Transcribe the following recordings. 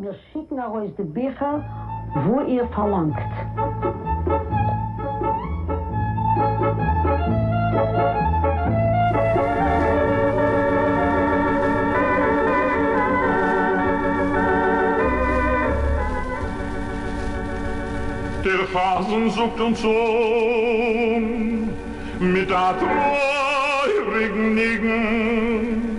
מיר שיקן ארויס די ביכער וואו איר פארלאנגט. דער חזן זאגט אונז אן מיט א טרויעריגן ניגון.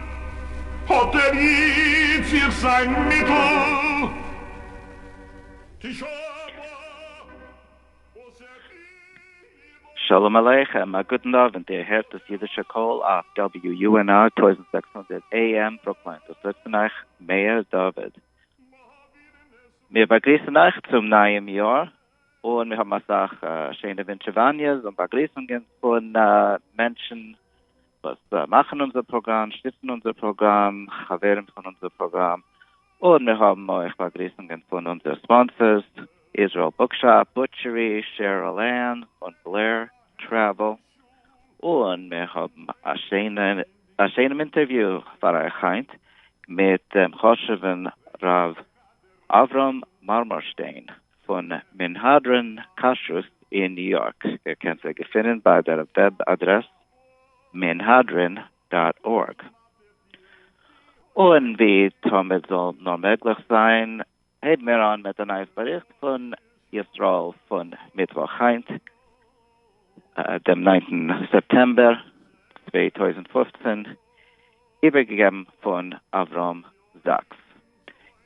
האט ער איצט זיך זיין מיטל. שלום עליכם, א גוטן אווענט, איר הערט דאס אידישע קול אויף WUNR טויזנט זעקס הונדערט AM ברוקלין, וואס רעדט פון אייך מאיר דוד. מיר באגריסן אייך צום נייעם יאר, און מיר האבן אסאך שיינע ווינטשעוואניעס און באגריסונגען פון מענטשן, וואס מאכן אונזער פראגראם, שטיצן אונזער פראגראם, חברים פון אונזער פראגראם, און מיר האבן אויך באגריסונגען פון אונזער ספאנסערס, איזראעל בוקשאפ, בוטשערי, שערעלען, און בלער טרעוועל, און מיר האבן א שיינעם אינטערוויו פאר אייך היינט מיט דעם חשוב'ן ר' אברהם מארמארשטיין פון מנהדרין כשרות אין ניו יארק. איר קענט זיי געפינען ביי דער וועב אדרעס מנהדרין דאט ארג. און ווי תמיד זאל נאר מעגליך זיין, הייבן מיר אן מיט א נייעס באריכט פון ישראל פון מיטוואך היינט דעם ניינטן סעפטעמבער צוויי טויזנט פֿופֿצן, איבערגעגעבן פון אברהם זאקס.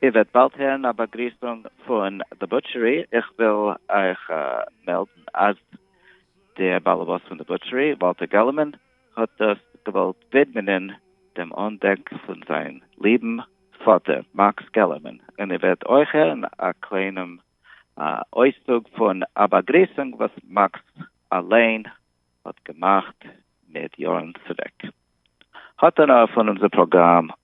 איר וועט באלד הערן א באגריסונג פון די בוטשערי, איך וויל אייך מעלדן אז דער באלעבאס פון די בוטשערי, וואלטער געלמאן, האט דאס געוואלט ווידמענען דעם אנדענק פון זיין ליבן פאטער מאקס געלערמאן, און איר וועט אויך הערן א קליינעם אויסצוג פון א באגריסונג וואס מאקס אליין האט געמאכט מיט יארן צוריק. האט איינער פון אונזער פראגראם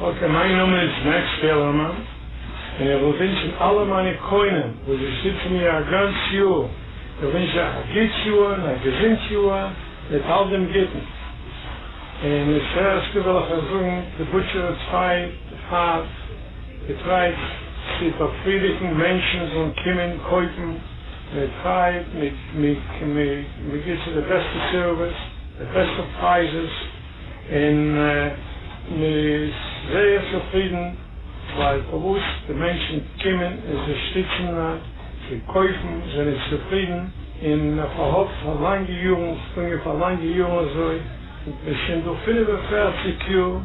אקעי מיין נאמען איז מעקס פעלערמאן און איך וויל ווינטשן אלע מיינע קונים וואס זיי שטיצן מיר א גאנץ יאר, איך ווינטש אייך א גוטס יאר און א געזונט יאר מיט אלט דעם גוטן, און מיט פרעשקע וויל איך אייך זאגן די בוטשער איז צוויי פאר די פרייז צו באפרידיגן מענטשן זאלן קומען קויפן. מיט הייפ, מיט מ'גיבט צו די בעסטע סערוויס, די בעסטע פרייזעס, און מ'איז זייער צופרידן, ווייל פארוואס די מענטשן קומען און זיי שטיצן צו קויפן, זיי זענען צופרידן, און מ'פארהאפט פאר לאנגע יארן, ס'איז געגאנגען פאר לאנגע יארן אזוי, מ'איז שוין דא פֿינף און פֿערציק יאר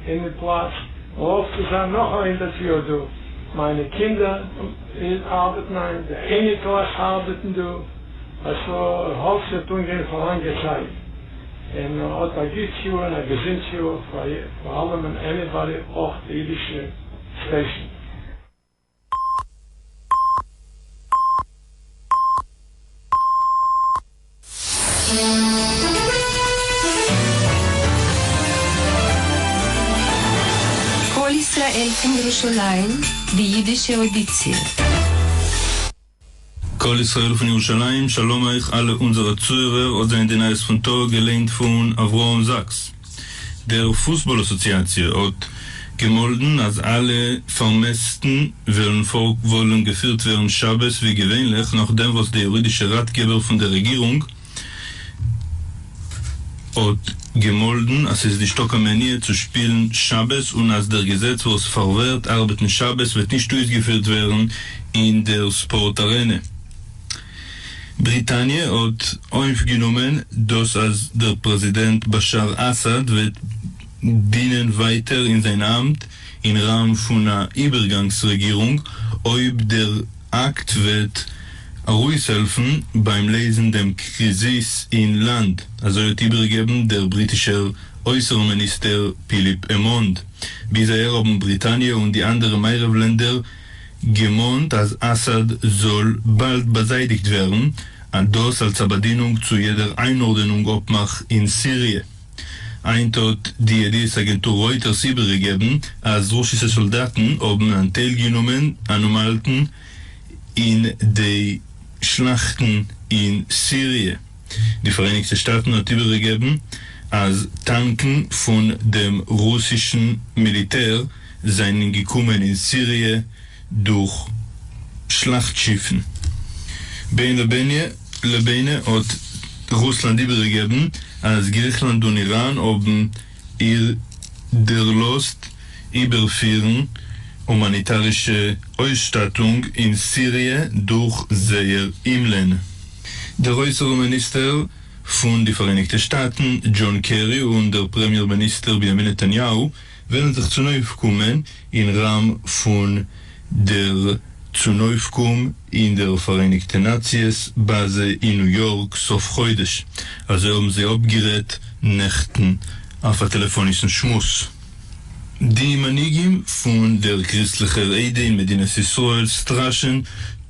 אין די פלאץ, מ'האפט צו זיין נאך א הונדערט יאר דא, מיינע קינדער. און ארבעט ניין, די אייניקלעך ארבעטן דא, א ס ה האלץ וועט אנגיין פאר לאנגע צייט, און האט א גוטס יאר און א געזונטס יאר פאר פאר אלעמען עניבאדי אויך די אידישע סטעישן. קול ישראל פון ירושלים, די אידישע אוידיציע. קול ישראל פון ירושלים, שלום אייך אלע אונזערע צוהערער, אט זענען די נייעס פון טאג, געליינט פון אברהם זאקס. די פוסבאל אסאציאציע האט געמאלדן אז אלע פארמעסטן וועלן פארוואלן געפירט ווערן שבת ווי געווענליך נאכדעם וואס די יורידישע ראטגעבער פון די רעגירונג האט געמאלדן אז ס'איז נישטא קיין מניעה צו שפילן שבת און אז דער געזעץ וואס פארווערט ארבעטן שבת וועט נישט אויסגעפירט ווערן אין דער ספארט ארענע. בריטאניע האט אויפגענומען דאס אז דער פרעזידענט באשאר אסאד וועט דינען ווייטער אין זיין אמט אין ראם פון א איבערגאנגס רעגירונג אויב דער אקט וועט ארויסהעלפן ביים לעזן דעם קריזיס אין לאנד, אזוי האט איבערגעגעבן דער בריטישער אויסערן מיניסטער פיליפ עמאנד. ביז אהער האבן בריטאניע און די אנדערע מערב לענדער געמאנט אז אסאד זאל באלד באזייטיגט ווערן, און דאס אלס א באדינונג צו יעדער איינארדענונג אפמאך אין סיריע. היינט האט די ידיעות אגענטור רויטערס איבערגעגעבן אז רוסישע סאלדאטן האבן אנטיילגענומען און אומהאלטן אין די שלאכטן אין סיריע. די פאראייניגטע שטאטן האט איבערגעגעבן אז טאנקן פון דעם רוסישן מיליטער זענען געקומען אין סיריע דורך שלאכט שיפן. בין לבינה לבינה האט רוסלאנד איבערגעגעבן אז גריכלאנד און איראן האבן איר דערלאזט איבערפירן הומאניטארישע אויסשטאטונג אין סיריע דורך זייער אומלען. דער אויסערן מיניסטער פון די פאראייניגטע שטאטן דזשאן קערי און דער פרעמיער מיניסטער בנימין נתניהו וועלן זיך צונויפקומען אין ראם פון דער צונויפקום אין דער פאראייניגטע נאציעס באזע אין ניו יארק סוף חודש, אזוי האבן זיי אפגערעדט נעכטן אויף א טעלעפאנישן שמועס די מנהיגים פון דער קריסטליכער עדה אין מדינת ישראל סטראשען.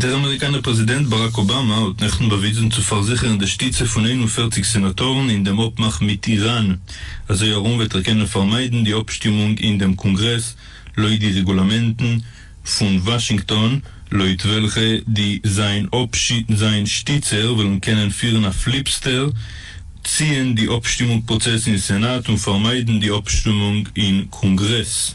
דער אמעריקאנער פרעזידענט באראק אבאמא האט נעכטן באוויזן צו פארזיכערן די שטיצע פון איין און פֿערציק סענאטארן אין דעם אפמאך מיט איראן, אזוי ארום וועט ער קענען פארמיידן די אפשטימונג אין דעם קאנגרעס לויט די רעגולאמענטן פון וואשינגטאן, לויט וועלכע די זיין זיין שטיצער וועלן קענען פירן א פליבסטער, ציען די אפשטימונג פראצעס אין סענאט און פארמיידן די אפשטומונג אין קאנגרעס.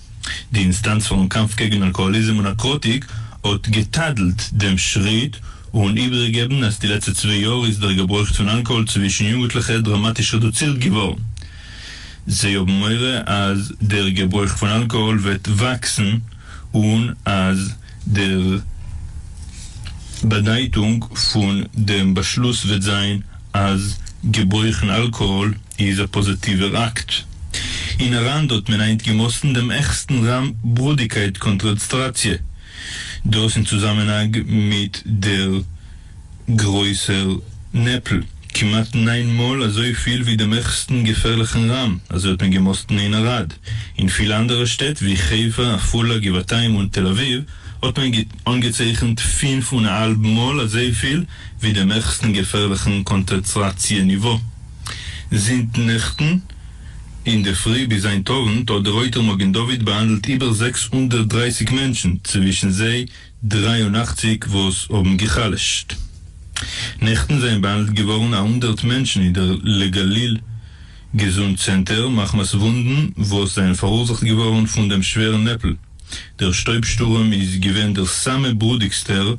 די אינסטאנץ פאר'ן קאמף קעגן אלקאהאליזם און נאקראטיק האט געטאדלט דעם שריט און איבערגעגעבן אז די לעצטע צוויי יאר איז דער געברויך פון אלקאהאל צווישן יונגוטליכע דראמאטיש רעדוצירט געווארן. זיי האבן מורא אז דער געברויך פון אלקאהאל וועט וואקסן און אז דער באדייטונג פון דעם באשלוס וועט זיין אז געברויכן אלקאהאל איז א פאזעטיווער אקט. אין אראנדא האט מען היינט געמאסטן דעם עכסטן ראם בראדיקייט קאנטרעצטראציע, דאס אין צוזאמענהאג מיט דער גרויסער נעפל, כמעט ניין מאל אזויפיל ווי דעם עכסטן געפערליכן ראם, אזוי האט מען געמאסטן אין ערד. אין פילע אנדערע שטעט ווי חיפה, עפולה, גבעתיים און תל אביב האט מען אנגעצייכנט פֿינף און א האלב מאל אזויפיל, ווי דעם העכסטן געפערליכן קאנצענטראציע ניווא זינט נעכטן אינדערפרי ביז היינט אוונט האט די רויטער מגן דוד באהאנדלט איבער זעקס הונדערט דרײַסיק מענטשן צווישן זיי דרײַ און אַכציק וואס האבן גע'חלש'ט נעכטן זענען באהאנדלט געווארן א הונדערט מענטשן אין דער לגליל געזונט צענטער מחמת וואונדן וואס זענען פאראורזאכט געווארן פון דעם שווערן נעפל. דער שטויב שטורעם איז געווען דער סאמע ברודיקסטער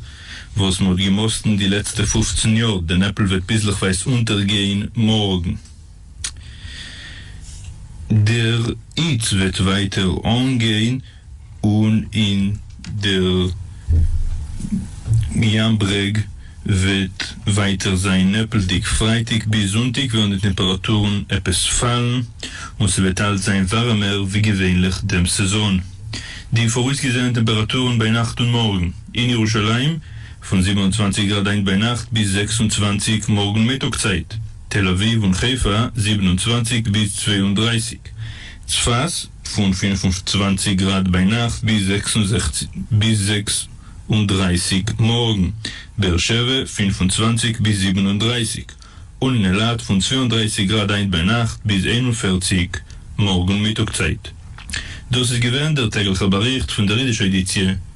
וואס מען האט געמאסטן די לעצטע פֿופֿצן יאר, די נעפל וועט ביזלעכווייז אונטערגיין מארגן, דער היץ וועט ווייטער אנגיין, און אין דער ים ברעג. וועט ווייטער זיין נעפלדיג, פרייטאג ביז זונטאג וועלן די טעמפראטורן עפעס פאלן און ס'וועט אלץ זיין ווארעמער ווי געווענליך דעם סעזאן. די פאראויסגעזעענע טעמפראטורן ביינאכט און מארגן אין ירושלים, פון זיבן און צוואַנציק גראד היינט ביינאכט ביז זעקס און צוואַנציק מארגן מיטאג צייט, תל אביב און חיפה זיבן און צוואַנציק ביז צוויי און דרײַסיק, צפת, פון פֿינף און צוואַנציק גראד ביינאכט ביז זעקס און זעכציק ביז זעקס און דרײַסיק מארגן, באר שבע פֿינף און צוואַנציק ביז זיבן און דרײַסיק, און אין אילת פון צוויי און דרײַסיק גראד היינט ביינאכט ביז איין און פֿערציק מארגן מיטאג צייט. דאס איז געווען דער טעגליכער באריכט פון דער אידישער עדיציע.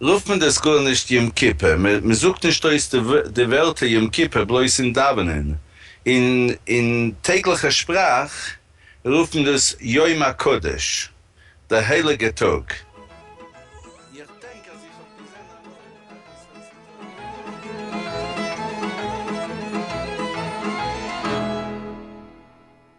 רופט מען דאס גאר נישט יום כיפור, מען זאגט נישט אויס די ווערטער יום כיפור בלויז אין דאווענען, אין טעגליכע שפראך רופט מען דאס יום הקדוש, דער הייליגער טאג. איך דענק אז איך האב געזען א מאל א גרוס אויפן טאוועל.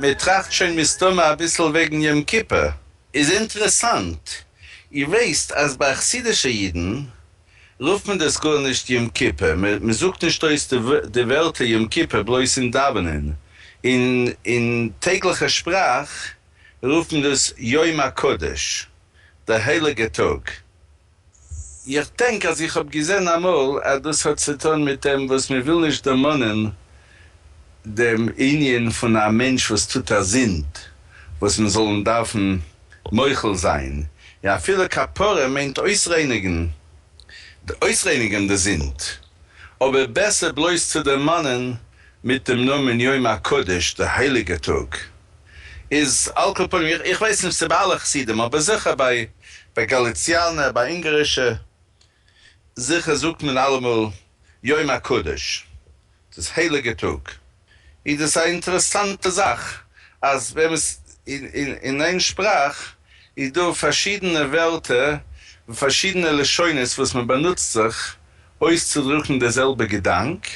מען טראכט שוין מסתמא אביסל וועגן יום כיפור. איז אינטרעסאנט, איר ווייסט אז ביי חסידישע אידן רופט מען דאס גארנישט יום כיפור, מען זאגט נישט אויס די ווערטער יום כיפור בלויז אין דאווענען, אין טעגליכע שפראך רופט מען דאס יום הקדוש, דער הייליגער טאג. איך דענק אז איך האב געזען אמאל אז דאס האט צו טון מיט דעם וואס מען וויל נישט דערמאנען דעם ענין פון א מענטש וואס טוט א זינד וואס מען זאל אים דארפן מוחל זיין, און אפילו כפרה מיינט אויסרייניגן אויסרייניגן די זינד, אבער בעסער בלויז צו דערמאנען מיט דעם נאמען יום הקדוש, די הייליגע טאג. איז על כל פנים, איך ווייס נישט צו ביי אלע חסידים, אבער זיכער ביי גאליציאנע, ביי אונגארישע, זיכער זאגט מען אלעמאל יום הקדוש, דאס הייליגע טאג, איז דאס א אינטערעסאנטע זאך אז ווען מ'איז אין איין שפראך איז דא פארשידענע ווערטער און פארשידענע לשונות וואס מ'באנוצט זיך אויסצודרוקן די זעלבע געדאנק,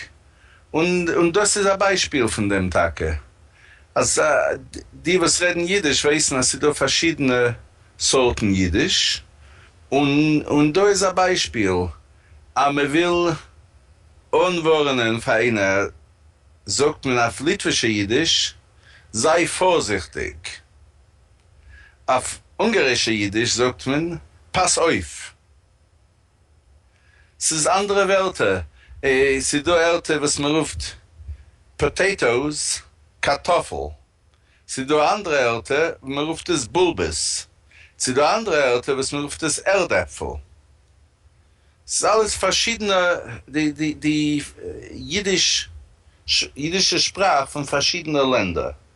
און דאס איז א ביישפיל פון דעם טאקע, אז די וואס רעדן אידיש ווייסן אז ס'דא פארשידענע סארטן אידיש, און דא איז א ביישפיל אז מען וויל אנווארענען פאר איינער זאגט מען אויף ליטווישע אידיש זיי פארזיכטיג, אויף אונגארישע אידיש זאגט מען פאס אויף. ס'איז אנדערע ווערטער, ס'איז דא ערטער וואס מ'רופט פאטעיטאוס, קארטאפל, ס'איז דא אנדערע ערטער וואס מ'רופט עס בולבעס, ס'איז דא אנדערע ערטער וואס מ'רופט עס ערד עפפל, ס'איז אלעס פארשידענע די אידישע שפראך פון פארשידענע לענדער.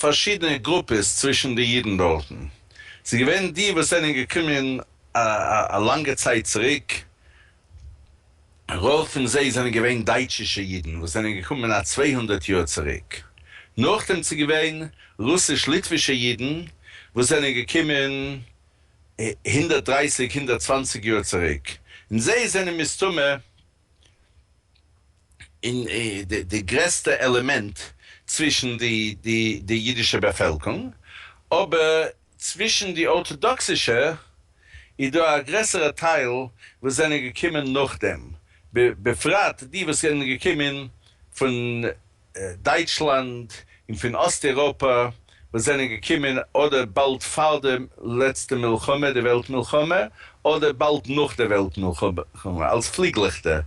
פארשידענע גרופעס צווישן די אידן דארטן, ס'איז געווען די וואס זענען געקומען א לאנגע צייט צוריק, רוב פון זיי זענען געווען דייטשישע אידן וואס זענען געקומען א צוויי הונדערט יאר צוריק, נאכדעם ס'איז געווען רוסיש-ליטווישע אידן וואס זענען געקומען הונדערט דרײַסיק הונדערט צוואַנציק יאר צוריק, און זיי זענען מסתמא און די גרעסטע עלעמענט צווישן די אידישע באפעלקונג, אבער צווישן די ארטאדאקסישע איז דא א גרעסערע טייל וואס זענען געקומען נאכדעם, בפרט די וואס זענען געקומען פון דייטשלאנד און פון אסט אירופא וואס זענען געקומען אדער באלד פאר די לעצטע מלחמה, די וועלט מלחמה, אדער באלד נאך די וועלט מלחמה, אלס פליגלעכטער,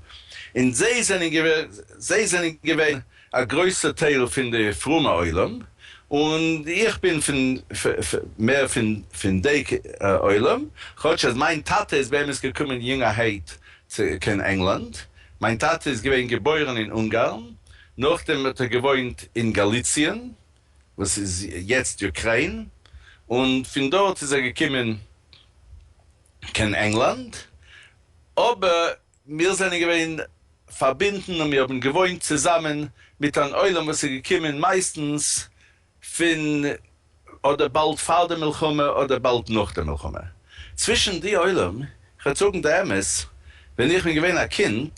און זיי זענען געווען זיי זענען געווען א גרויסע טייל פון די פרומע עולם, און איך בין פון מער פון דעי עולם, כאטש אז מיין טאטע איז באמת געקומען יונגערהייט קיין ענגלאנד, מיין טאטע איז געווען געבוירן אין אונגארן, נאכדעם האט ער געוואוינט אין גאליציען, וואס איז יעצט אוקריין, און פון דארט איז ער געקומען קיין ענגלאנד, אבער מיר זענען געווען פארבינדן און מיר האבן געוואוינט צוזאמען מיט אן עולם וואס איז געקומען מייסטנס פון אדער באלד פאר די מלחמה אדער באלד נאך די מלחמה. צווישן די עולם, כ'וועל זאגן די אמת, ווען איך בין געווען א קינד,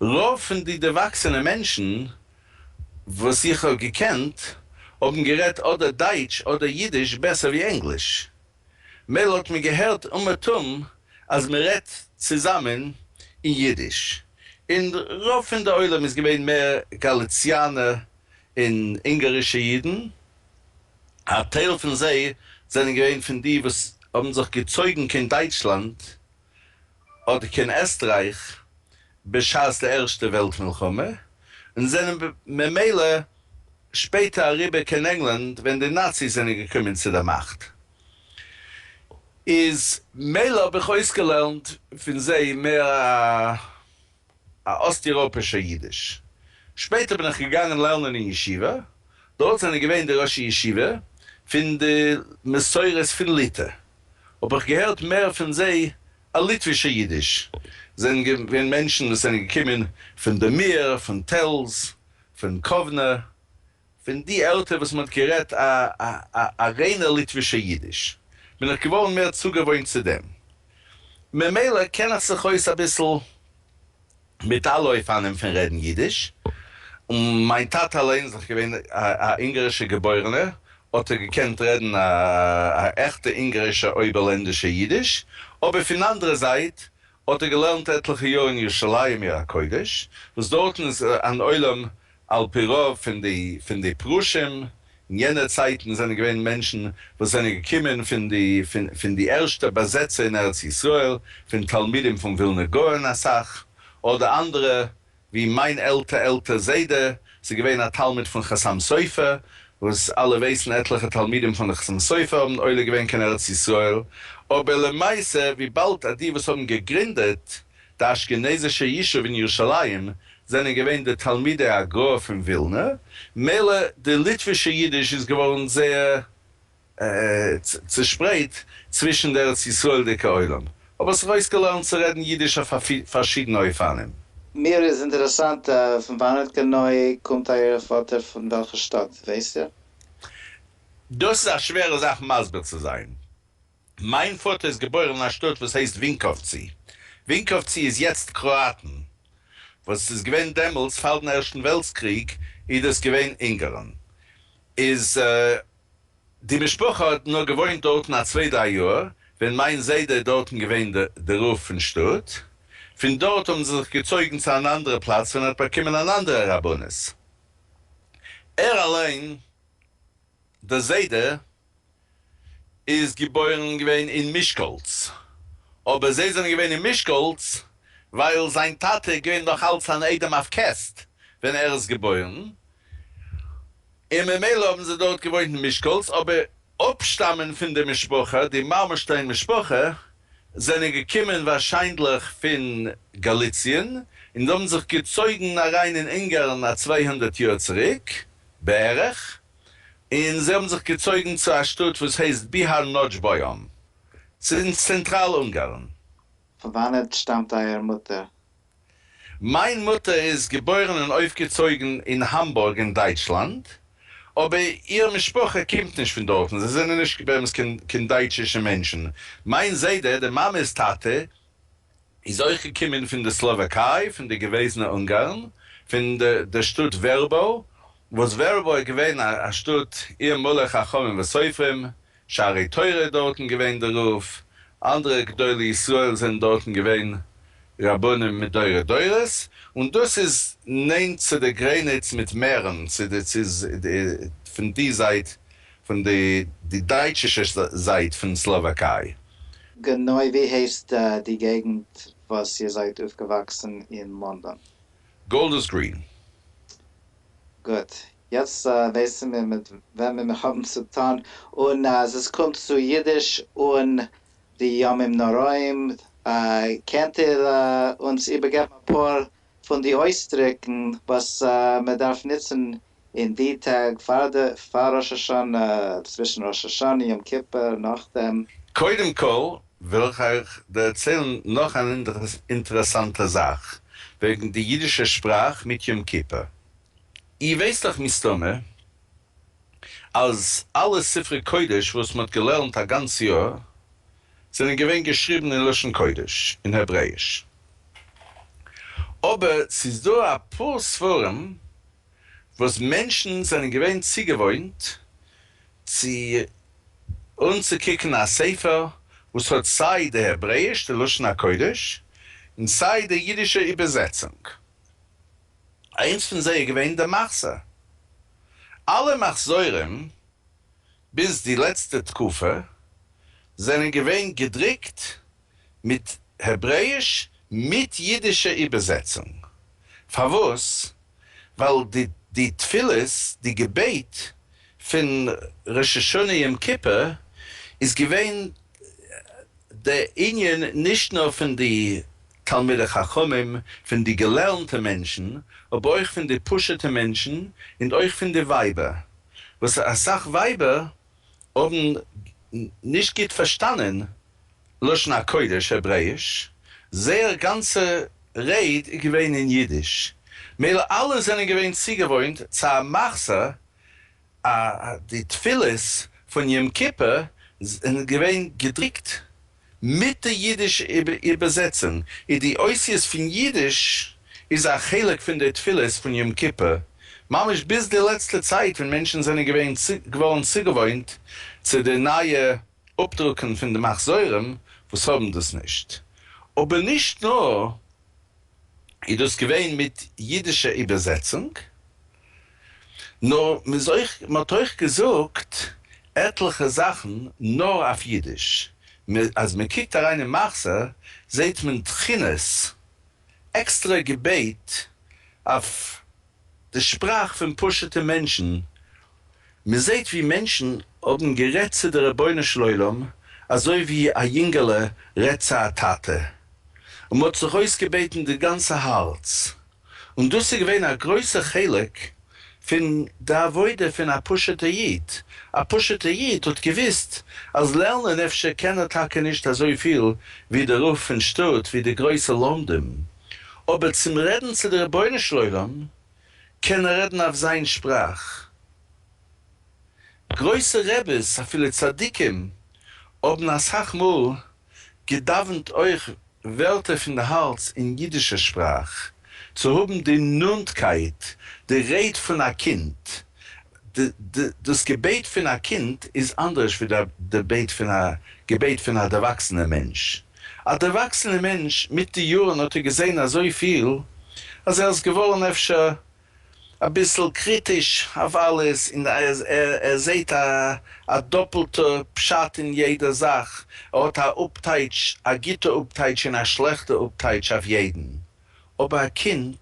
רוב פון די דערוואקסענע מענטשן וואס איך האב געקענט, האבן גערעדט אדער דייטש אדער אידיש בעסער ווי ענגליש. מילא האט מען געהערט אומעטום אז מען רעדט צוזאמען אין אידיש, און רוב פון די עולם איז געווען מער גאליציאנער און אונגארישע אידן, א טייל פון זיי זענען געווען פון די וואס האבן זיך געצויגן קיין דייטשלאנד אדער קיין עסטרייך בשעת די ערשטע וועלט מלחמה, און זענען ממילא שפעטער אריבער קיין ענגלאנד ווען די נאציס זענען געקומען צו די מאכט, איז מילא האב איך אויסגעלערנט פון זיי מער א. א אסט-איראפישער יידיש. שפעטער בין איך געגאנגען לערנען אין ישיבה, דארט זענען געווען די ראשי ישיבה פון די מסורת פון ליטא, האב איך געהערט מער פון זיי א ליטווישער יידיש, זענען געווען מענטשן וואס זענען געקומען פון דעמיר, פון טעלז, פון קאוונע, פון די ערטער וואס מען האט גערעדט א ריינער ליטווישע אידיש, בין איך געווארן מער צוגעוואוינט צו דעם, ממילא קען איך זיך אויס אביסל מיט אלע אופנים פון רעדן אידיש, און מיין טאטע אליין איז דאך געווען א אונגארישע געבוירענער, האט ער געקענט רעדן א עכטע אונגארישע אויבערלענדישע אידיש, אבער פון אנדערע זייט האט ער געלערנט עטליכע יאר אין ירושלים עיר הקודש, וואס דארטן איז אן עולם על פי רוב פון די פון די פרושים, אין יענע צייטן זענען געווען מענטשן וואס זענען געקומען פון די פון די ערשטע באזעצער אין ארץ ישראל, פון תלמידים פון ווילנא גאון אסאך, אדער אנדערע ווי מיין עלטע עלטע זיידע איז געווען א תלמיד פון חתם סופר, וואס אלע ווייסן עטליכע תלמידים פון חתם סופר האבן עולה געווען קיין ארץ ישראל, אבער למעשה וויבאלד אז די וואס האבן געגרינדעט די אשכנזישע ישוב אין ירושלים זענען געווען די תלמידי הגרא פון ווילנא, מילא די ליטווישע אידיש איז געווארן זייער צעשפרייט צווישן די ארץ ישראל'דיגע עולם, האב איך זיך אויסגעלערנט צו רעדן אידיש אויף פארשידענע אופנים. מיר איז אינטערעסאנט פון וואנעט גענוי קומט אייער פאטער פון וועלכע שטאט ווייסט איר? דאס איז א שווערע זאך מסביר צו זיין. מיין פאטער איז געבוירן אין א שטאט וואס הייסט ווינקאווצי. ווינקאווצי איז יעצט קראאטן. וואס איז געווען דעמאלטס, פאר דעם ערשטן וועלטס קריג, אידאס געווען אונגארן. איז. די משפחה האט נאר געוואוינט דארטן א צוויי דריי יאר ווען מיין זיידע איז דארטן געווען די רב פון שטאט, פון דארט האבן זיי זיך געצויגן צו אן אנדערע פלאץ ווען ער האט באקומען אן אנדערע רבנות, ער אליין דער זיידע איז געבוירן געווען אין מישקאלץ, אבער זיי זענען געווען אין מישקאלץ ווייל זיין טאטע איז געווען נאך אלץ אן איידעם אויף קעסט ווען ער איז געבוירן, און ממילא האבן זיי דארט געוואוינט אין מישקאלץ, אבער אפשטאמען פון די משפחה, די מארמארשטיין משפחה, זענען געקומען ווארשיינדליך פון גאליציען, און האבן זיך געצויגן אריין אין אונגארן א צוויי הונדערט יאר צוריק בערך, און זיי האבן זיך געצויגן צו א שטאט וואס הייסט ביהאר נאדזשבאיאן, ס'איז אין צענטראל אונגארן. פון וואנעט שטאמט אייער מוטער? מיין מוטער איז געבוירן און אויפגעצויגן אין האמבורג אין דייטשלאנד, אבער איר משפחה קומט נישט פון דארטן, זיי זענען נישט באמת קיין דייטשישע מענטשן, מיין זיידע, די מאמע'ס טאטע, איז אויך געקומען פון די סלאוואקיי, פון די געוועזנע אונגארן, פון די שטאט ווערבאו, וואס ווערבאו איז געווען א שטאט איר מלא חכמים וסופרים, שערי תורה איז דארטן געווען די רב, אנדערע גדולי ישראל זענען דארטן געווען רבנים מדורי דורות, און דאס איז נענט צו די גרעניץ מיט מערן, פון די זייט פון די דייטשישע זייט פון סלאוואקיי. גענוי ווי הייסט די געגנט וואס איר זייט אויפגעוואקסן אין לאנדאן? גאלדערס גרין. גוט, יעצט ווייסן מיר מיט וועמען מיר האבן צו טון, און אז עס קומט צו אידיש און די ימים נוראים, קענט איר אונז איבערגעבן אפאר פון די אויסדרוקן וואס מען דארף נוצן אין די טעג פאר די פאר ראש השנה, צווישן ראש השנה יום כיפור, נאכדעם? קודם כל וויל איך אייך דערציילן נאך אן אינטערעסאנטע זאך וועגן די אידישע שפראך מיט יום כיפור. איר ווייסט דאך מסתמא אז אלע ספרי קודש וואס מען האט געלערנט א גאנץ יאר זענען געווען געשריבן אין לשון קודש, אין העברעאיש. אבער ס'איז דא אפאר ספרים וואס מענטשן זענען געווען צוגעוואוינט צו אנצוקוקן א ספר וואס האט סיי די העברעאיש, די לשון הקודש, און סיי די אידישע איבערזעצונג. איינס פון זיי איז געווען די מחזור. אלע מחזורים ביז די לעצטע תקופה זענען געווען געדרוקט מיט העברעיש מיט אידישע איבערזעצונג. פארוואס? ווייל די תפילות, די געבעט פון ראש השנה יום כיפור איז געווען די ענין נישט נאר פון די תלמידי חכמים, פון די געלערנטע מענטשן, אבער אויך פון די פשוט'ע מענטשן, און אויך פון די ווייבער, וואס אסאך ווייבער האבן נישט גוט פארשטאנען לשון הקודש העברעאיש, זייער גאנצע רייד איז געווען אין אידיש, מילא אלע זענען געווען צוגעוואוינט צו א מחזה די תפילות פון יום כיפור זענען געווען געדרוקט מיט די אידיש איבערזעצונג, און די אותיות פון אידיש איז א חלק פון די תפילות פון יום כיפור ממש ביז די לעצטע צייט ווען מענטשן זענען געווען געווארן צוגעוואוינט צו די נייע אפדרוקן פון די מחזורים וואס האבן דאס נישט, אבער נישט נאר. איז דאס געווען מיט אידישע איבערזעצונג, נאר מ'איז אויך, מ'האט אויך געזאגט עטליכע זאכן נאר אויף אידיש, אז מ'קוקט אריין אין מחזור זעהט מען תחינות, עקסטרע געבעט אויף די שפראך פון פשוטע מענטשן, מען זעט ווי מענטשן האבן גערעדט צו די רבונו של עולם אזוי ווי א יונגעלע רעדט צו א טאטע, און מען האט זיך אויסגעבעטן די גאנצע הארץ, און דאס איז געווען א גרויסע חלק פון די עבודה פון א פשוטע איד, א פשוטע איד האט געוויסט אז לערנען אפשר קען ער טאקע נישט אזויפיל ווי די רב פון שטאט ווי די גרויסע לומדים, אבער צום רעדן צו די רבונו של עולם קען ער רעדן אויף זיין שפראך. גרויסע רעבעס אפילו צדיקים האבן אסאך מאל געדאווענט אויך ווערטער פון די הארץ אין אידישער שפראך צו האבן די נאנטקייט, די רייד פון א קינד דאס געבעט פון א קינד איז אנדערש ווי די בעט פון א געבעט פון א דערוואקסענע מענטש. א דערוואקסענע מענטש מיט די יארן האט ער געזען אזויפיל אז ער איז געווארן אפשר אביסל קריטיש אויף אלעס און ער זעט א דאפלטע פשט אין יעדע זאך, ער האט א אפטייטש, א גוטע אפטייטש און א שלעכטע אפטייטש אויף יעדן. אבער א קינד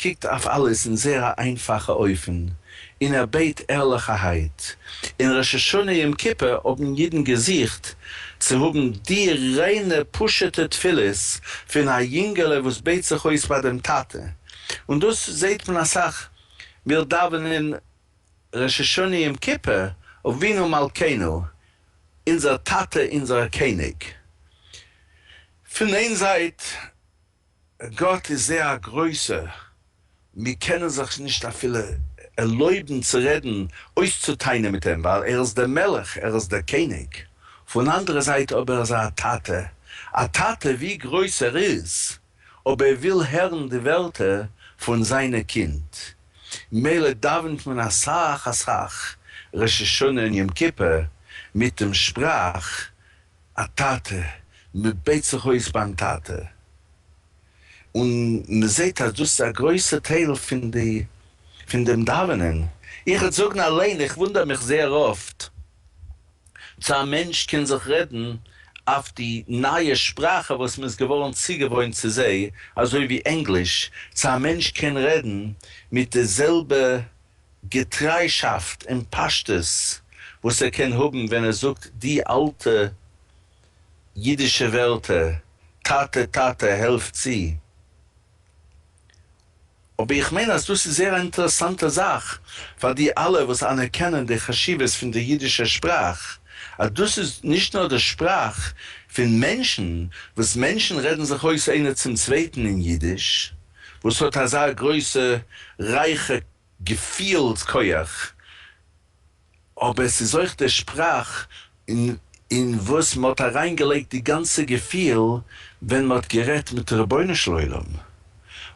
קוקט אויף אלעס אין זייער א איינפאכע אופן, און ער בעט ערליכערהייט. אין ראש השנה יום כיפור האבן אידן געזוכט צו האבן די ריינע פשוט'ע תפילות פון א יונגעלע וואס בעט זיך אויס ביי דעם טאטע, און דאס זעט מען אסאך, מיר דאווענען ראש השנה יום כיפור אבינו מלכנו, אונזער טאטע אונזער קעניג. פון איין זייט גאט איז זייער א גרויסער, מיר קענען זיך נישט אפילו ערלויבן צו רעדן, אויסצוטענה'ן מיט אים, ווייל ער איז דער מלך, ער איז דער קעניג. פון אנדערע זייט אבער איז ער א טאטע, א טאטע ווי גרויס ער איז, אויב ער וויל הערן די ווערטער פון זיינע קינד. ממילא דאווענט מען אסאך אסאך ראש השנה און יום כיפור מיט דעם שפראך, א טאטע, מען בעט זיך אויס ביים טאטע, און מען זעט אז דאס איז א גרויסע טייל פון די פון דעם דאווענען. איך וועט זאגן אליין, איך וואונדער מיך זייער אפט צו א מענטש קען זיך רעדן אויף די נייע שפראכע וואס מען איז געווארן צוגעוואוינט צו זיי, אזוי ווי ענגליש, צו א מענטש קען רעדן מיט די זעלבע. געטריישאפט און פשטות וואס ער קען האבן ווען ער זאגט די אלטע אידישע ווערטער טאטע טאטע העלף צו. אבער איך מיין אז דאס איז זייער א אינטערעסאנטע זאך פאר די אלע וואס אנערקענען די חשיבות פון די אידישע שפראך, אז דאס איז נישט נאר די שפראך פון מענטשן, וואס מענטשן רעדן זיך אויס איינער צום צווייטן אין אידיש, וואס האט אזא גרויסע רייכע געפילס כח, אבער עס איז אויך די שפראך אין וואס מען האט אריין געלייגט די גאנצע געפיל ווען מען האט גערעדט מיט רבונו של עולם,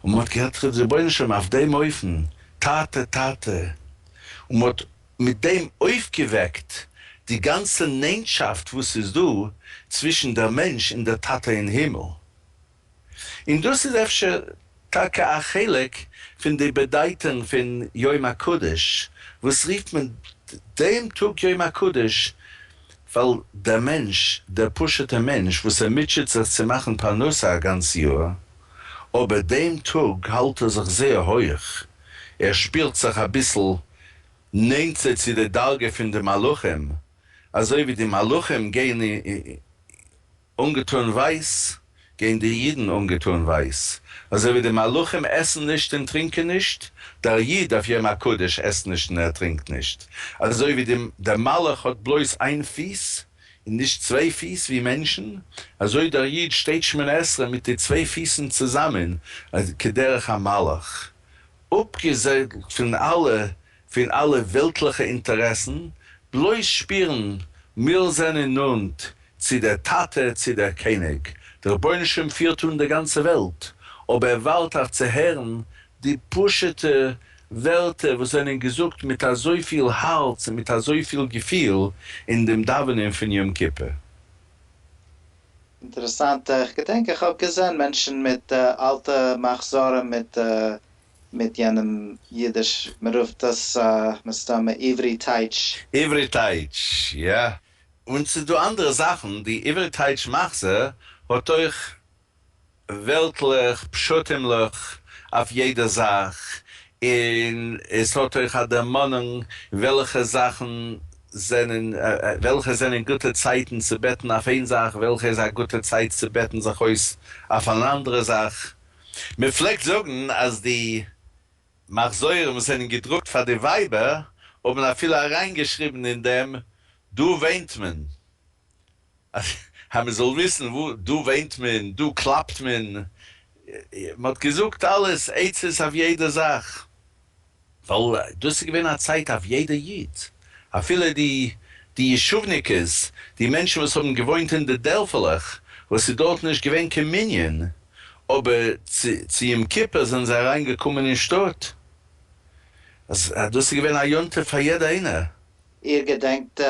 און מען האט גערעדט מיט רבונו של עולם אויף דעם אופן, טאטע טאטע, און מען האט מיט דעם אויפגעוועקט די גאנצע נענטשאפט וואס איז דא צווישן דער מענטש און דער טאטע אין הימל. און דאס איז אפשר טאקע א חלק פון די באדייטונג פון יום הקדוש, וואס רופט מען דעם טאג יום הקדוש? ווייל דער מענטש, דער פשוט'ער מענטש וואס ער מוטשעט זיך צו מאכן פרנסה א גאנץ יאר, אבער דעם טאג האלט ער זיך זייער הויעך, ער שפירט זיך אביסל נענטער צו די דרגה פון די מלאכים, אזוי ווי די מלאכים גייען אָנגעטאָן ווײַס, גייען די ייִדן אָנגעטאָן ווײַס, אַזוי ווי די מלכים עסן נישט און טרינקען נישט, דער ייִד אויף יום-הקדוש עסט נישט און ער טרינקט נישט, אַזוי ווי די, דער מלך האָט בלויז איין פֿיס און נישט צוויי פֿיס, ווי מענטשן, אַזוי דער ייִד שטייט שמונה-עשרה מיט די צוויי פֿיסן צוזאַמען, כּדרך המלך, אָפּגעזעדלט פֿון אַלע פון אלע וועלטליכע אינטערעסן, בלויז שפירן מיר זענען נאנט צו דער טאטע, צו דער קעניג, דער רבונו של עולם פירט אן דער גאנצע וועלט, אבער ער ווארט אויף צו הערן די פשוטע ווערטער וואס זענען געזאגט מיט אזויפיל הארץ און מיט אזויפיל געפיל אין דעם דאווענען פון יום כיפור. אינטערעסאנט, איך געדענק איך האב געזען מענטשן מיט אלטע מחזורים מיט מיט יענעם אידיש, מען רופט דאס מסתמא עברי טייטש. עברי טייטש, יא. און ס'איז דא אנדערע זאכן, די עברי טייטש מחזה האט אויך וועלטליך, פשטים'ליך אויף יעדע זאך, און עס האט אויך א דערמאנונג וועלכע זאכן זענען, וועלכע זענען גוטע צייטן צו בעטן אויף איין זאך, וועלכע איז א גוטע צייט צו בעטן זיך אויס אויף אן אנדערע זאך. מען פלעגט זאגן אז די מחזורים וואס זענען געדרוקט פאר די ווייבער האבן אפילו אריינגעשריבן אין דעם דא וואינט מען, אז מען זאל וויסן וואו דא וואינט מען, דא קלאפט מען, מען האט געזאגט אלעס עצות אויף יעדע זאך. ווייל דאס איז געווען א צייט אויף יעדע איד, אפילו די די ישוב'ניקעס, די מענטשן וואס האבן געוואוינט אין די דערפעלעך וואס איז דארט נישט געווען קיין מנין, אבער צו צו יום כיפור זענען זיי אריין געקומען אין שטאט, אז דאס איז געווען א יום טוב פאר יעדע איינער. איר געדענקט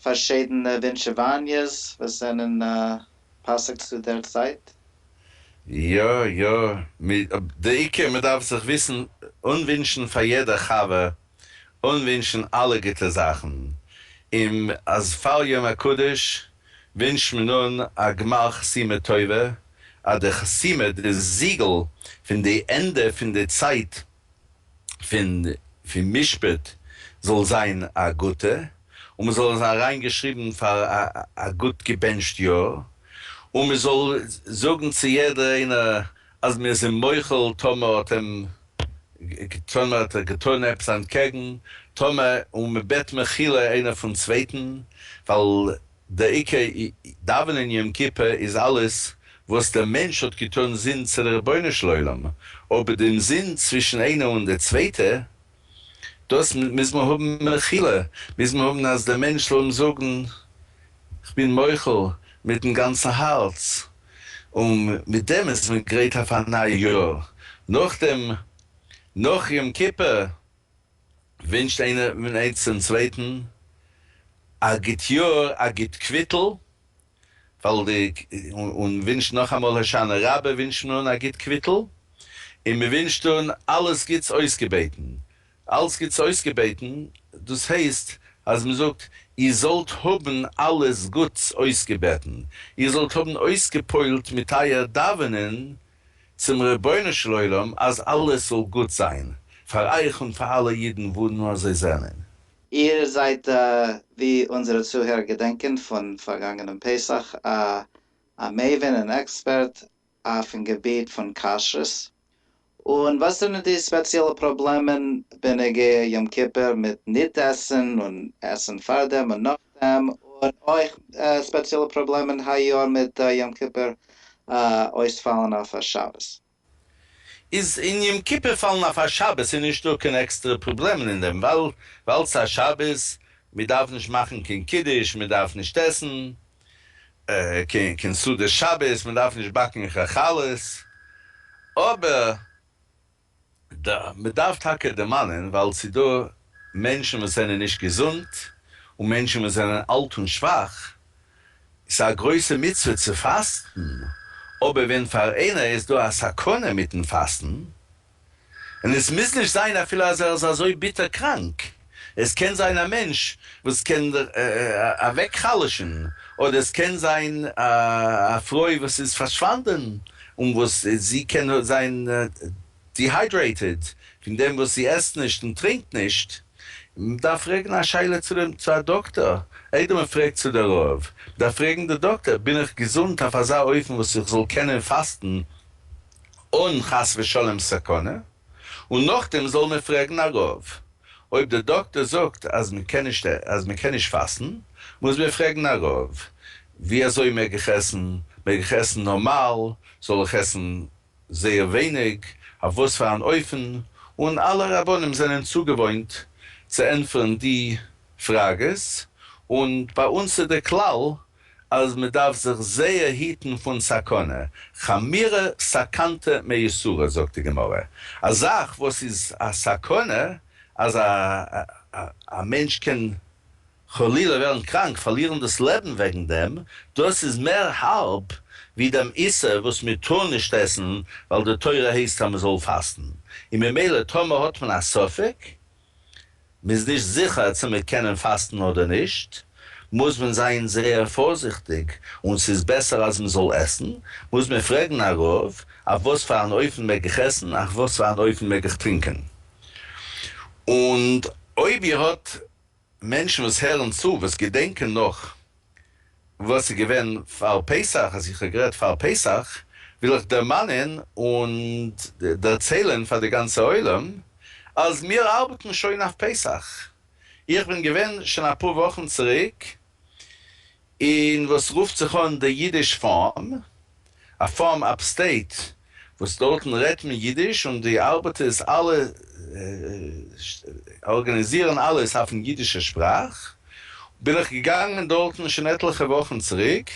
פארשידענע ווינטשעוואניעס וואס זענען פסק'סטו דער צייט? יא יא, די עיקר מען דארף זיך וויסן אנווינטשן פאר יעדע חבר, אנווינטשן אלע גוטע זאכן, און אז פאר יום הקדוש ווינטשט מען אן א גמר חתימה טובה, אז די חתימה, די זיגל פון די ענדע פון די צייט פון פון משפט זאל זיין א גוטע, און מען זאל עס אריין געשריבן פאר א א גוט געבענטשט יאר, און מען זאל זאגן צו יעדער איינער אז מיר זענען מוחל טאמער האט אים טאמער האט ער געטון עפעס אנטקעגן, טאמער און מען בעט מחילה איינער פון צווייטן, ווייל די עיקר דאווענען יום כיפור איז אלעס וואס דער מענטש האט געטון זינט צו דער רבונו של עולם, אבער דעם זינד צווישן איינער און דער צווייטע, דאס מוז מען האבן מחילה, מוז מען האבן אז דער מענטש זאל אים זאגן כ'בין מוחל מיטן גאנצן הארץ, און מיט דעם איז מען גרייט אויף א נייע יאר, נאכדעם נאך יום כיפור ווינטשט איינער פון אייץ צום צווייטן א גוט יאר, א גוט קוויטל, ווייל די, און ווינטשט נאכאמאל הושענא רבה, ווינטשט מען אן א גוט קוויטל, און מען ווינטשט אן אלעס גוטס אויסגעבעטן, אלס גוטס אויסגעבעטן, דאס הייסט אז מען זאגט, איר זאלט האבן אלעס גוטס אויסגעבעטן, איר זאלט האבן אויסגעפוילט מיט אייער דאווענען צום רבונו של עולם אז אלעס זאל גוט זיין פאר אייך און פאר אלע אידן וואו נאר זיי זענען. איר זעיט ווי אונזערע צוהערער געדענקען פון פארגאנגענעם פסח א א מבין און עקספערט אויפן געביט פון כשרות, און וואס זענען די ספעציעלע פראבלעמען בנוגע יום כיפור מיט ניט עסן און עסן פארדעם און נאכדעם, און אויך ספעציעלע פראבלעמען היי יאר מיט יום כיפור אויס פאלן אויף א שבת. איז אין יום כיפור פאלן אויף א שבת איז נישט דא קיין עקסטערע פראבלעמען אין דעם ווייל ס'איז א שבת מען דארף נישט מאכן קיין קידוש מען דארף נישט עסן קיין סעודת שבת מען דארף נישט באקן חלות אבער ד. מ'דארף טאקע דערמאנען ווייל ס'איז דא מענטשן וואס זענען נישט געזונט און מענטשן וואס זענען אלט און שוואך, ס'איז א גרויסע מצוה צו פאסטן, אבער ווען פאר איינער איז דא א סכנה מיטן פאסטן און עס מוז נישט זיין אפילו אז ער איז אזוי ביטער קראנק, עס קען זיין א מענטש וואס קען אוועק חלש'ן, אדער עס קען זיין א פרוי וואס איז פארשוואנדען און וואס זי קען זיין דיהיידרעיטעד פון דעם וואס זי עסט נישט און טרינקט נישט, מען דארף פרעגן א שאלה צו א דאקטאר, איידער מען פרעגט צו די רב, מען דארף פרעגן די דאקטאר, בין איך געזונט אויף אזא אופן וואס איך זאל קענען פאסטן אן חס ושלום סכנה? און נאכדעם זאל מען פרעגן א רב. אויב דער דאקטער זאגט אז מען קען נישט אז מען קען נישט פאסטן, מוז מען פרעגן א רב, ווי אזוי מעג איך עסן? מעג איך עסן נארמאל? זאל איך עסן זייער ווייניג? אויף וואס פאר אן אופן? און אלע רבנים זענען צוגעוואוינט צו ענטפערן די פראגעס, און ביי אונז איז דער כלל אז מען דארף זיך זייער היטן פון סכנה, חמירא סכנתא מאיסורא זאגט די גמרא, א זאך וואס איז א סכנה אז א מענטש קען חלילה ווערן קראנק, פארלירן דאס לעבן וועגן דעם, דאס איז מער הארב ווי דעם איסור וואס מען טאר נישט עסן ווייל די תורה הייסט אז מען זאל פאסטן, און ממילא טאמער האט מען א ספק, מ'איז נישט זיכער צו מיר קענען פאסטן אדער נישט, מוז מען זיין זייער פארזיכטיג, און ס'איז בעסער אז מ'זאל עסן, מוז מען פרעגן א רב, אויף וואס פאר אן אופן מעג איך עסן, אויף וואס פאר אן אופן מעג איך טרינקען. און אויב איר האט מענטשן וואס הערן צו, וואס געדענקען נאך, וואס איז געווען פאר פסח, אז איך האב גערעדט פאר פסח, וויל איך דערמאנען און דערציילען פאר די גאנצע עולם אז מיר ארבעטן שוין אויף פסח, איך בין געווען שוין אפאר וואכן צוריק אין וואס רופט זיך אן די אידיש פארם, א פארם אפסטעיט וואס דארטן רעדט מען אידיש און די ארבעטערס אלע ארגאניזירן אלעס אויפן אידישע שפראך, בין איך געגאנגען דארטן שוין עטליכע וואכן צוריק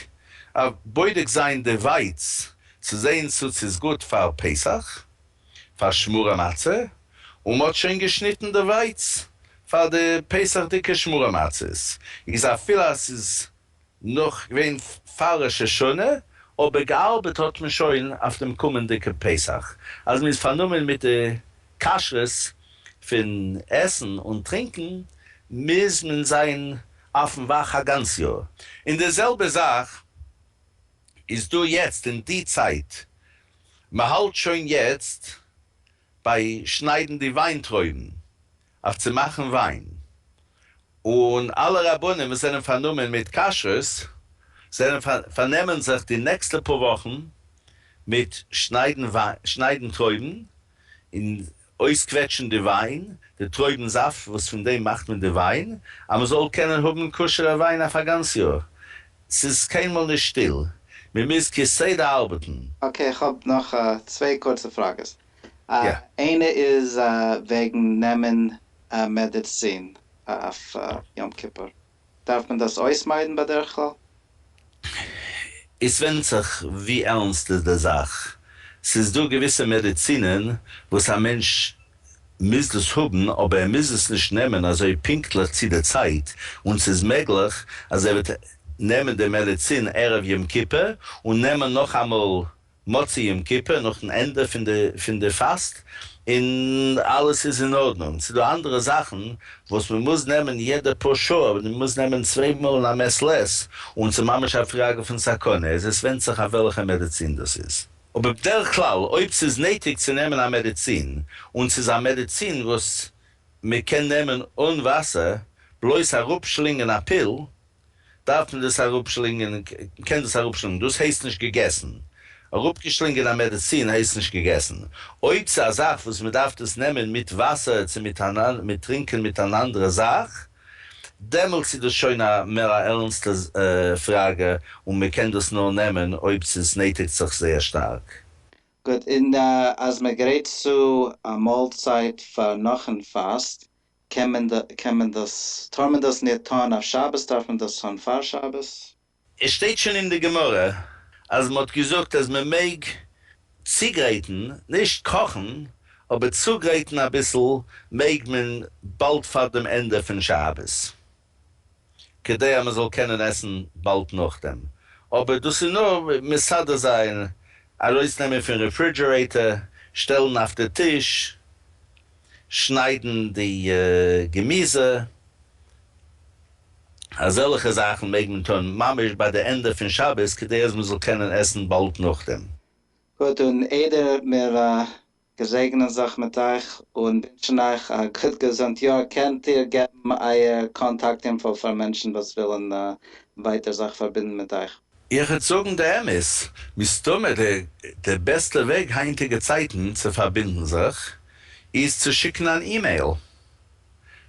אויף בודק זיין די ווייץ צו זעהן צו ס'איז גוט פאר פסח פאר שמורה מצה, און מ'האט שוין געשניטן די ווייץ פאר די פסח'דיגע שמורה מצות, איז אפילו אז ס'איז. נאך געווען פאר ראש השנה, אבער געארבעט האט מען שוין אויף דעם קומענדיגע פסח, אז מען איז פארנומען מיט די כשרות פון עסן און טרינקען, מוז מען זיין אויפן וואך א גאנץ יאר. און די זעלבע זאך איז דא יעצט אין די צייט, מען האלט שוין יעצט ביי שניידן די וויינטרויבן, אויף צו מאכן וויין, און אלע רבנים וואס זענען פארנומען מיט כשרות זענען פארנעמען זיך די נעקסטע פאר וואכן מיט שניידן טרויבן און אויסקוועטשן די וויין, די טרויבן זאפט וואס פון דעם מאכט מען די וויין, אז מען זאל קענען האבן כשר'ע וויין אויף א גאנץ יאר. ס'איז קיינמאל נישט שטיל, מען מוז כסדר ארבעטן. אקעי, איך האב נאך צוויי קורצע פראגעס. איינע איז וועגן נעמען מעדעצין אויף יום כיפור, דארף מען דאס אויסמיידן בדרך כלל? עס ווענדט זיך ווי ערנסט איז די זאך, ס'איז דא געוויסע מעדעצינען וואס א מענטש מוז דאס האבן אבער ער מוז עס נישט נעמען אזוי פונקטליך צו די צייט, און ס'איז מעגליך אז ער וועט נעמען די מעדעצין ערב יום כיפור און נעמען נאכאמאל מוצאי יום כיפור נאכן ענדע פון די פאסט און אלעס איז אין ארדנונג, ס'איז דא אנדערע זאכן וואס מען מוז נעמען יעדע פאר שעה אבער מען מוז נעמען צוויי מאל אין א מעת לעת און ס'איז ממש א פראגע פון סכנה איז עס ווענדט זיך אויף וועלכע מעדעצין דאס איז. אבער בדרך כלל אויב ס'איז נויטיג צו נעמען א מעדעצין און ס'איז א מעדעצין וואס מען קען נעמען אן וואסער, בלויז אראפ שלינגען א פיל, דארף מען דאס אראפשלינגען און קען דאס אראפשלינגען, דאס הייסט נישט געגעסן. אראפגעשלינגען א מעדעצין הייסט נישט געגעסן. אויב ס'איז א זאך וואס מען דארף דאס נעמען מיט וואסער צו מיט טרינקען מיט אן אנדערע זאך, דעמאלטס איז דאס שוין א מער א ערנסטע פראגע און מען קען דאס נאר נעמען אויב ס'איז נעטיגט זיך זייער שטארק. גוט, און אז מען גרייט צו א מאלצייט פאר נאכן פאסט, קען מען ד קען מען דאס טאר מען דאס ניט טאן אויף שבת דארף מען דאס טאן פאר שבת. עס שטייט שוין אין די גמרא אז מען האט געזאגט אז מען מעג צוגרייטן, נישט קאכן, אבער צוגרייטן אביסל מעג מען באלד פאר דעם ענדע פון שבת. כדי אז מען זאל קענען עסן באלד נאכדעם, אבער דאס איז נאר מסדר זיין, ארויסנעמען פון רעפרידזשערעיטער, שטעלן אויף די טיש, שניידן די געמיזע, אזעלכע זאכן מעג מען טון ממש ביי די ענדע פון שבת כדי אז מען זאל קענען עסן באלד נאכדעם. גוט, און איידער מיר מיר זעגענען זיך מיט אייך און ווינטשן אייך א גוט געזונט יאר, קענט איר געבן אייער קאנטאקט אינפאו פאר מענטשן וואס ווילן ווייטער זיך פארבינדן מיט אייך? איך וועט זאגן די אמת, מסתמא די בעסטע וועג היינטיגע צייטן צו פארבינדן זיך איז צו שיקן אן אימעיל,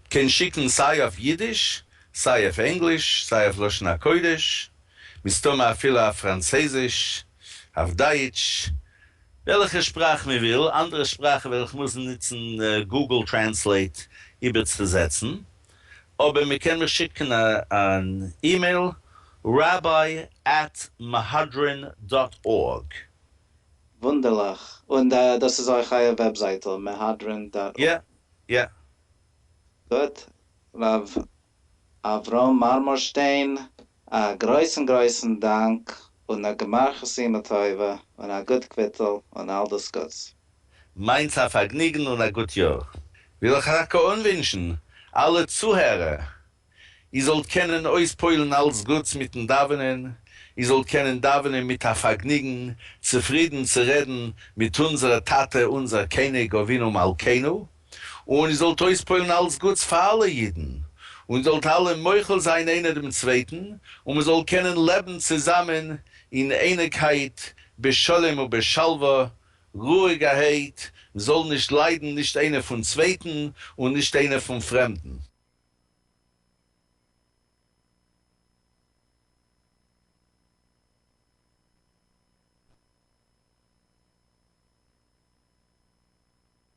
קען שיקן סיי אויף אידיש, סיי אויף ענגליש, סיי אויף לשון הקודש, מסתמא אפילו אויף פראנצעזיש, אויף דייטש, וועלכע שפראך מען וויל, אנדערע שפראכן וועל איך מוזן נוצן גוגל טרענסלעיט איבערצוזעצן, אבער מען קען מיר שיקן אן אימעיל, rabbi at mehadrin dot org. וואונדערליך, און דאס איז אויך אייער וועבזייטל, mehadrin dot org? יא, יא. גוט, רב אברהם מארמארשטיין, א גרויסן גרויסן דאנק און א גמר חתימה טובה און א גוט קוויטל און אל דאס גוטס. מיינס א פארגניגן און א גוט יאר. וויל איך רק אנווינטשן אלע צוהערער איר זאלט קענען אויספועלן אלס גוטס מיטן דאווענען, איר זאלט קענען דאווענען מיט א פארגניגן, צופרידן צו רעדן מיט אונזערע טאטע אונזער קעניג אבינו מלכינו, און איר זאלט אויספועלן אלץ גוטס פאר אלע אידן, און איר זאלט אלע מוחל זיין איינער דעם צווייטן, און מען זאל קענען לעבן צוזאמען אין אייניגקייט בשלום ובשלווה, רואיגערהייט, מען זאל נישט ליידן נישט איינער פון צווייטן און נישט איינער פון פרעמדן.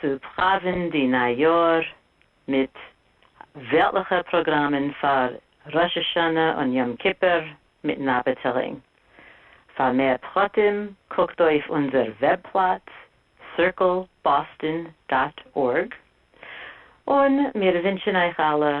צו פראווען די ניי יאר מיט וועלטליכע פראגראמען פאר ראש השנה און יום כיפור מיטן אפעטילינג. פאר מער פרטים קוקט אויף אונזער וועבפלאץ circleboston דאט ארג, און מיר ווינטשן אייך אלע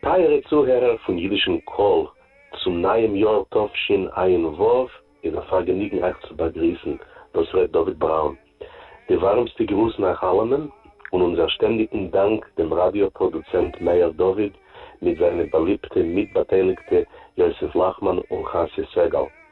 טייערע צוהערער פון אידישן קול, צום נייעם יאר תשפ ו איז א פארגעניגן אייך צו באגריסן, דאס ר' דוד בראון. די ווארעמסטע גרוסן אייך אלעמען, און אונזער שטענדיגן דאנק דעם ראדיא פראדוצענט מאיר דוד מיט זיינע באליבטע מיטבאטייליגטע יוסף לאכמאן און חסיה סגל.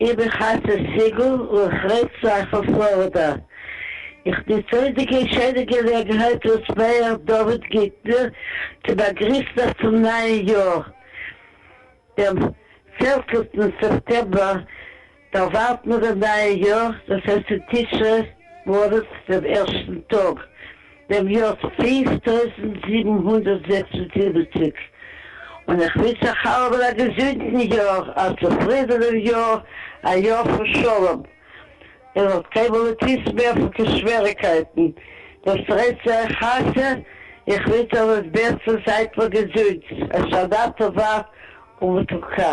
איך בין חתן סיגל און איך רעד צו אייך פון פלארידע. איך נוץ אויס די געשענע געלעגנהייט אלס מעיאר דוד גיטנער צו באגריסן אייך צום נייען יאר, דעם פערצנטן סעפטעמבער דערווארט מען דעם נייען יאר, דאס הייסט אין תשרי מולד דעם ערשטן טאג דעם יאָר פֿינף טויזנט זיבן הונדערט זעקס און זיבעציק, און איך ווינטש אײַך אַלעמען אַ געזונטן יאָר, אַ צופֿרידענעם יאָר, אַ יאָר פֿון שלום. איר זאָלט קיין מאָל ניט וויסן מער פֿון קיין שוועריקייטן. דאָס רעדט צו אײַך הַשע. איך ווינטש אײַך דאָס בעסטע, זײַט מיר געזונט, אַ שנה טובֿה ומתוקה.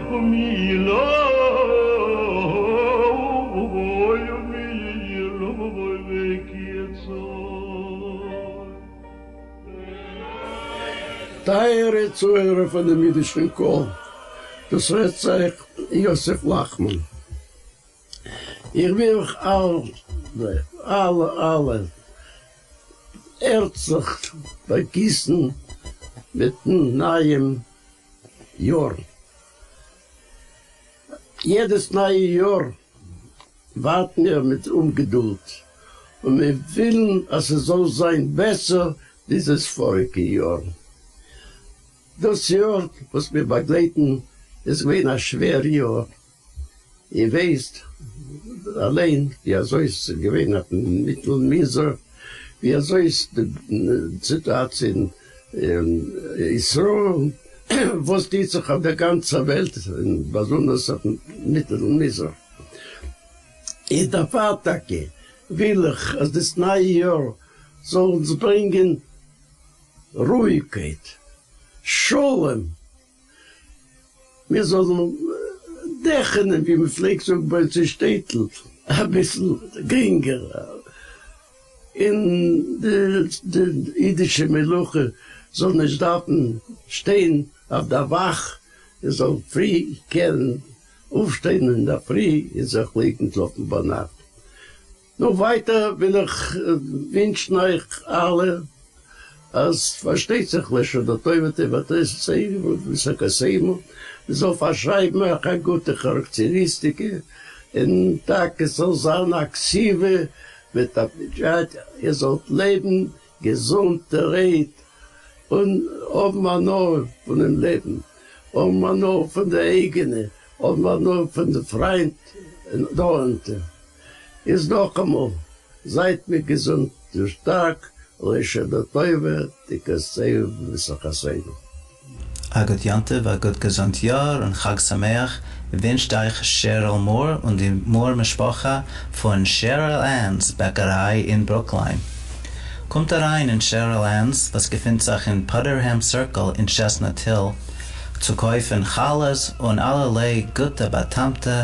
ומי ילווי ומי ילווי ויקצור. טייערע צוהערער פונעם אידישן קול, דאס רעדט זיך יוסף לאכמאן. איך וויל אייך אלע, אלע, אלע הערצליך באגריסן מיטן נייעם. יארן. יעדעס נייע יאר ווארטן מיר מיט אומגעדולד און מיר ווילן אז ס'זאל זיין בעסער ווי דאס פאריגע יאר. דאס יאר וואס מיר באגלייטן איז געווען א שווער יאר. איר ווייסט אליין ווי אזוי עס איז געווען אויפן מיטל מנזר, ווי אזוי איז די סיטואציע אין ישראל, וואס טוט זיך אויף דער גאנצער וועלט און באזונדערס אויפן מיטל מזרח. און דערפאר טאקע וויל איך אז דאס נייע יאר זאל אונז ברענגען רואיגקייט, שלום. מיר זאלן דעכענען ווי מען פלעגט זאגן ביי אונז אין שטעטל אביסל גרינגער, און די אידישע מלוכה זאל נישט דארפן שטיין אויף דער וואך, מען זאל פרי קענען אויפשטיין אינדערפרי און זיך לייגן שלאפן ביינאכט. נו ווייטער וויל איך ווינטשן אייך אלע אז פארשטייט זיך לשנה טובה תיבת עשרינו ופסח קסיימו, מען זאל פארשרייבן אויך א גוטע כאראקטעריסטיקע, און טאקע ס'זאל זיין א קציבה מיט א פג'ת, איר זאלט לעבן געזונט טרייט און האבן הנאה פונעם לעבן, האבן הנאה פון די אייגענע, האבן הנאה פון די פריינט און נאנטע. איז נאכאמאל, זייט מיר געזונט און שטארק, לוי' שנה טובה, תקצהו במשחתינו. א גוט יום טוב, א גוט געזונט יאר און חג שמח ווינטשט אייך שעריל מאור און די מאור משפחה פון שעריל ענס בעקעריי אין ברוקליין. קומט אריין אין שעריל ענס וואס געפינט זיך אין פאדערהעם סירקל אין טשעסנאט היל צו קויפן חלות און אלערליי גוטע באטעמטע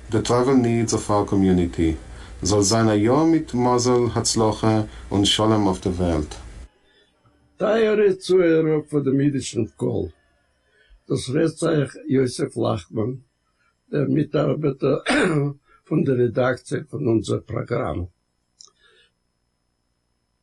די טראוועל נידס אויף אר קאמיוניטי. זאל זיין א יאר מיט מזל, הצלחה, און שלום אויף די וועלט. טייערע צוהערער פונעם אידישן קול, דאס רעדט אייך יוסף לאכמאן, דער מיטארבעטער פון די רעדאקציע פון אונזער פראגראם.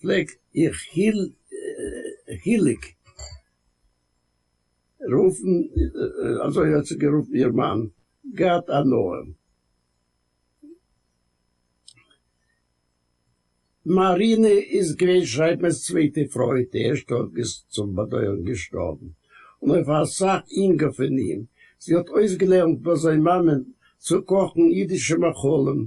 פלעג איך חיליק רופן, אזוי האט זיך גערופן איר מאן, גאט א נועם. מארינע איז געווען שרייבמער'ס צווייטע פרוי, די ערשטע האט צום באדויערן געשטארבן, און אויף אסאך אינגער פון אים. זי האט אויסגעלערנט ביי זיין מאמען צו קאכן אידישע מאכלים,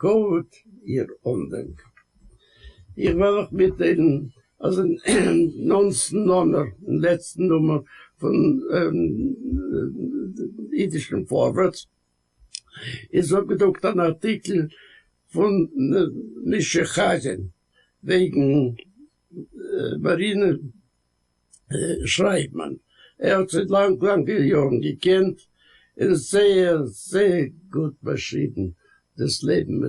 גוט איר אנדענק. איך וועל אייך מיטטיילן אז אין נאנצן נומער, אין לעצטן נומער פון אידישן פארווערטס, איז אפגעדרוקט אן ארטיקל פון משה חזן וועגן מרינה שרייבט מען ער האט זיי לאנג לאנגע יארן געקענט און זייער זייער גוט באשריבן דאס לעבן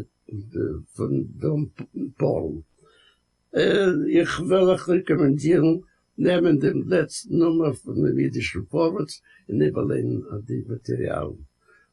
פון דאן פארל. איך וועל אייך רעקאמענדירן נעמען דעם לעצטן נומער פונעם אידישן פארווערטס און איבערליינען די מאטעריאלן.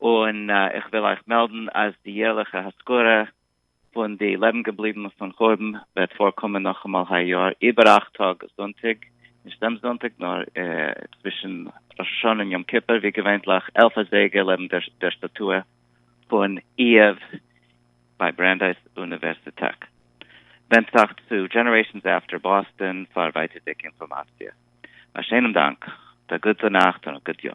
און איך וויל אייך מעלדן אז די יערליכע הזכרה פון די לעבן געבליבן פון חורבן וועט פארקומען נאכאמאל היי יאר איבער אכט טאג זונטאג, נישט דעם זונטאג נאר צווישן ראש השנה און יום כיפור, ווי געווענטליך עלף אזייגער לעבן דער שטאטוע פון איהר ביי ברענדייס אוניווערסיטעט. ווענדט זיך צו דזשענערעישאנס עפטער באסטאן פאר ווייטערדיגע אינפארמאציע. א שענעם דאנק, א גוטע נאכט און א גוט יאר.